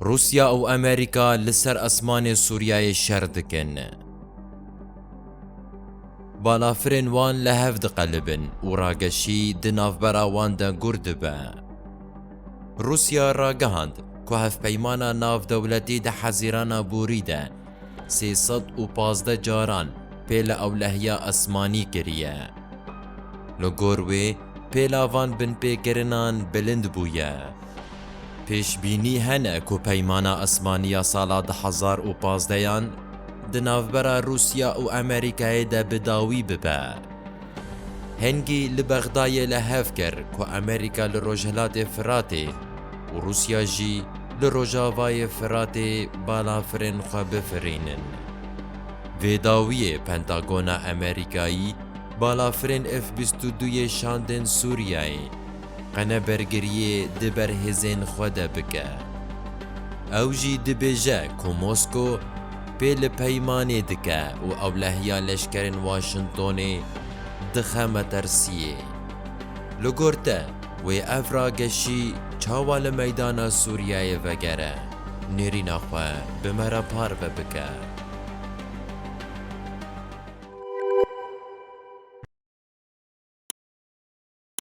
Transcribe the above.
Rûsya û Amerîka li ser esmanê Sûriyeyê şer dikin. Balafirên wan li hev diqelibin û rageşî di navbera wan de gûr dibe. Rûsya ragihand ku hevpeymana navdewletî di Hezîrana Borî de Sê sed û pazdeh caran pêle ewlehiya esmanî kiriye. Li gor wê pêla van binpêkirinan bilind bûye. Pêşbînî hene ku Peymana Esmanî ya sala du hezar û pazdeh yan di navbera Rûsya û Amerîkayê de bi dawî bibe. Hingî li Bexdayê li hev kir ku Amerîka li Rojhilatê Firatê û Rûsya jî li Rojavayê Firatê balafirên xwe bifirînin. Vê dawiyê Pentagona Amerîkayî balafirên F bîst û du yê şandên Sûriyeyê. Qene bergiriyê di ber hêzên xwe de bike. Ew jî dibêje ku Mosko pê li peymanê dike û ewlehiya leşkerên Washingtonê dixe metersiyê. Li gor te wê ev rageşî çawa li meydana Sûriyeyê vegere, nêrîna xwe bi me re parve bike.